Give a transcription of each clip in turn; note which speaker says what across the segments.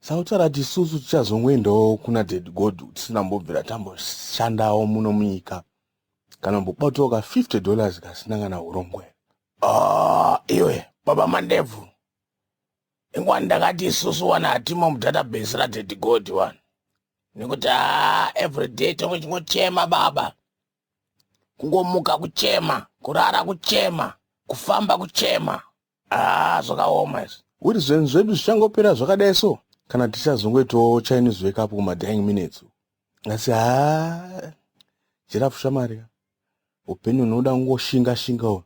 Speaker 1: sautaura
Speaker 2: kuti isusu tichazongoendawo kuna ded god tisina mbobvira tamboshandawo muno munyika kana mbobatawo ka 50 dollars kasina kana urongwe ah,
Speaker 3: iwe baba mandebvu inguva ndakati isusu wani hatimo mudatabase raded god wani nekuti a ah, everyday tonge chingochema baba kungomuka kuchema kurara kuchema kufamba kuchema haa zvakaoma izvi kuti zvinhu zvedu
Speaker 2: zvichangopera zvakadai so kana tichazongoitawo chinese wake up kumadying minutes asi haa jirafu shamari ka upenyu hunoda kungoshinga shinga uyu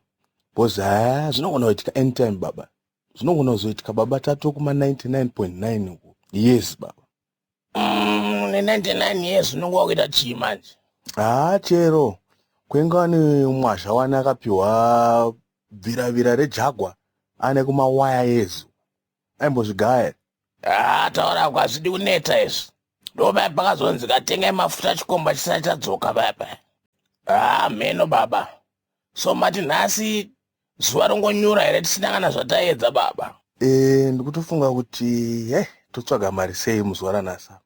Speaker 2: bhozi haa zvinogona kuitika anytime baba zvinogona kuzoitika baba tato kuma 99.9 uku yes baba Mm, une 99
Speaker 3: years unenge wakuita chii manje haa chero
Speaker 2: kwenge wani mwazha wani akapiwa bviravira rejagwa ane kumawaya yezu aimbozvigaya haa ah,
Speaker 3: taura ko hazvidi kuneta izvi ndopaya pakazonzi katengai mafuta chikomba chisati chadzoka paya paya haa ah, mheno baba so mati nhasi zuva rongonyura here tisina kana zvataedza baba e, ndikutofunga
Speaker 2: kuti he eh, totsvaga mari sei muzuva ranasa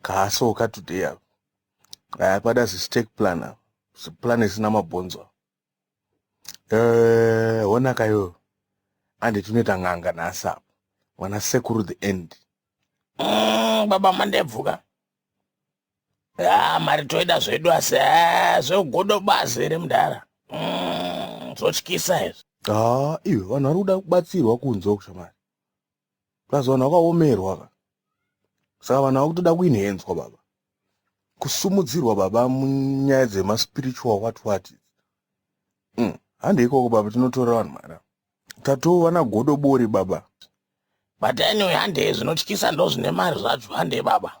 Speaker 2: kahaso ukatoday ava aya kwada zistake plan ava ziplan isina mabhonzo eh, honaka iyoyo anditi unoita n'anga nhasi apa mwana sekuru the end mm,
Speaker 3: baba mandebvuka Ah, mari toida zvedu asi ah, zvegodo bazi here mudhara mm, zvotyisa izvi haa iwe vanhu
Speaker 2: vari kuda kubatsirwa kunze uku shamari plus vanhu vakaomerwa ka saka vanhu ava kutoda kuinhenzwa baba kusumudzirwa baba munyaya dzemaspiritual what what mm. handi ikoko baba tinotora vanhu mara tatova nagodo bori baba but
Speaker 3: anyway handei zvinotyisa ndozvine mari zvacho handei baba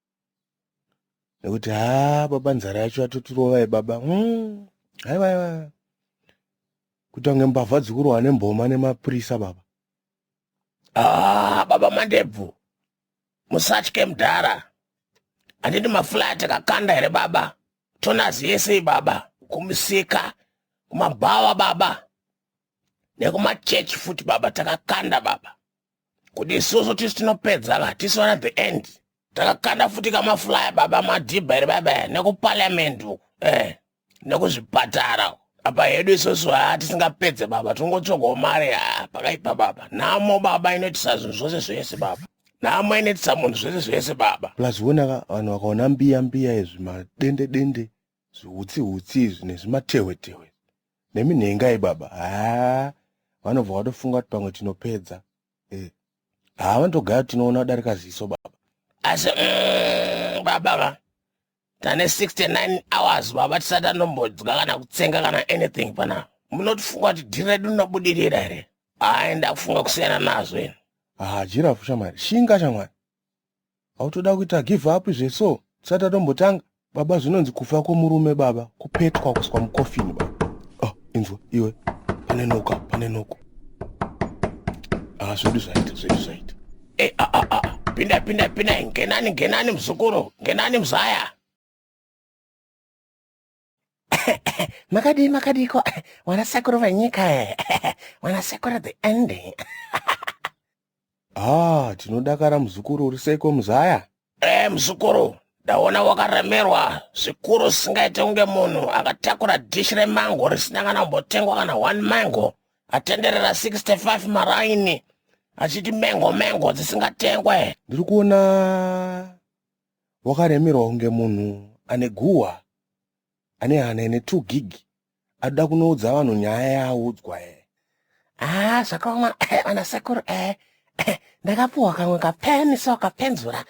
Speaker 2: nekuti haa baba nzara yacho yatotirovai baba mm. haiwa haiwa kuita kunge mbavha dzikurohwa nemboma nemapurisa baba ah,
Speaker 3: baba mandebvu musatye mdhara handiti mafulaya takakanda here baba tonazi yesei baba kumusika kumabhawa baba nekumachurch futi baba takakanda baba kuti isusu tisu tinopedza ka tisu vana the end takakanda futi kamafulaya baba madhibha here baba eh, nekupaliamendi uku eh nekuzvipatara apa hedu isusu haa tisingapedze baba tinongotsvagawo mari haa pakaipa baba nhamo baba inoitisa zvinhu zvose zvese baba nhamo inoitisa munhu zvese zvese baba plus wonaka vanhu
Speaker 2: vakaona mbiya mbiya izvi madende dende Zvihutsi hutsi izvi nezvimatehwe tehwe nemi nhengai baba haa vanobva vatofunga kuti pamwe tinopedza eh. haa vanotogaya kuti tinoona kudarika ziso baba asi
Speaker 3: mm, baba va tane 69 hours baba tisati anombodya kana kutsenga kana anything pana munotifunga kuti dhiri redu rinobudirira here haa ndakufunga kusiyana nazvo haa jirafu shamwari
Speaker 2: shinga shamwari hautoda kuita give up izve so tisati tatombotanga baba zvinonzi kufa kwomurume baba kupetwa kuswa mukofini baba oh, inzwa iwe pane noka pane noko ah, zvedu zvaita zvedu zvaita eh, ah, ah, ah, ah. pinda pinda
Speaker 3: pinda ngenani ngenani muzukuru ngenani muzaya makadii makadiiko wanasekuru venyika wanasekuru the ending ah
Speaker 2: tinodakara muzukuru uri seiko muzaya e muzukuru
Speaker 3: ndaona wakaremerwa zvikuru zvisingaite kunge munhu akatakura dhishi remango risina kana kumbotengwa kana one mango atenderera 65 maraini achiti mengo mengo dzisingatengwe ndiri kuona
Speaker 2: wakaremerwa kunge munhu ane guhwa ane hana ine 2 gig adoda kunoudza vanhu nyaya yaaudzwa e haa
Speaker 3: zvakaoma ana sekuru e ndakapuhwa kamwe kapeni so kapenzura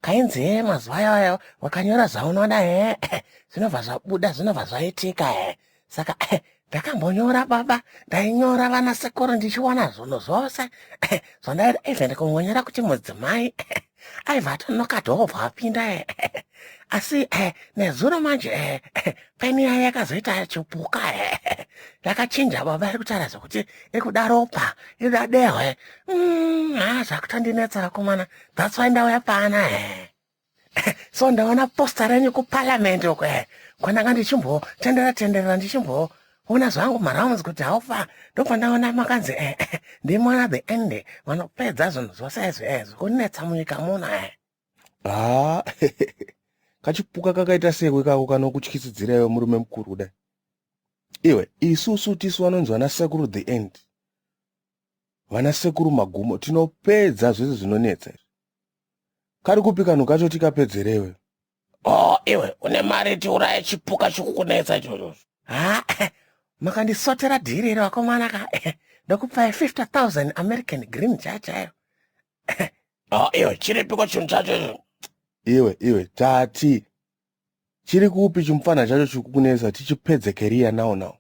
Speaker 3: kainzi he mazuva iwayo wakanyora zvaunoda he zvinobva zvabuda zvinobva zvaitika he saka eh, ndakambonyora baba ndainyora vana sekuru ndichiona zvono zvose eh, zvondaida ive ndikungonyora kuti mudzimai eh, aiva atonoka dhobva apinda eh, eh, asi eh, nezuro manje eh, eh, peni yaye yakazoita chipuka eh, eh, yakachinja baba iri kutaura zvekuti iri kuda ropa iri kuda dehwe mm, haa zvakutondinetsa vakomana that's why ndauya paana eh. so ndaona posta renyu kuparliament uko eh, kwananga ndichimbo tendera tenderera ndichimbo ona zvangu marounds kuti haufa ndopandaona makanzi eh, eh, ndimwana the end vanopedza zvinhu zvose izvi eh, zvikunetsa munyika muno eh. ha
Speaker 2: kachipuka kakaita sekwe kako kanokutyisidzira iwe murume mukuru kudai iwe isusu tisu vanonzi vana sekuru the end Vana sekuru magumo tinopedza zvese zvinonetsa izvi. Kari kupi kanhu kacho tikapedzerewe. Oh,
Speaker 3: iwe une mari tiuraya chipuka chikukunetsa ichocho. Ha, ah, makandisotera dhiri iro vakomana ka. Ndokupaya 50,000 American green chaya chayo. Oh, iwe chiripiko chinhu chacho icho. Iwe, iwe
Speaker 2: tati chiri kupi chimupfanha chacho chikukunetsa tichipedze keriya now now.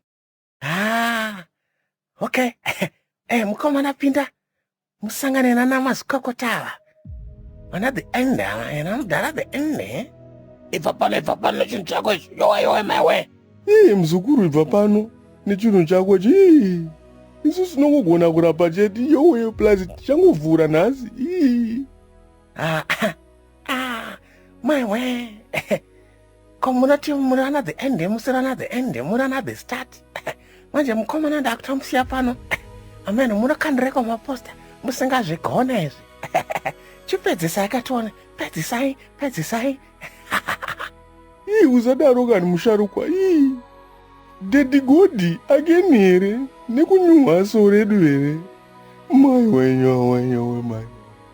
Speaker 2: haa
Speaker 3: okay eh, mukomana pinda musangane nana mazvikokota ava vana the end ava and anodhara the end eh? ibva pano ibva pano nechinhu chako ichi yowe yowe maiwe ii muzukuru
Speaker 2: ibva pano nechinhu chako chii isu sinongogona kurapa chete yowe plus tichangovhura nhasi ii ah, ah, ah,
Speaker 3: maiwe ko munoti muri ana the end musiri ana the end muri ana the start manje mukomana ndakutomusiya pano ameno munokandireko maposta musingazvigona izvi chipedzisai katione pedzisai pedzisai
Speaker 2: ii usadaro kani musharukwa ii dedi godi akeni here nekunyuhwa so redu here mai wenyu awenyu wemai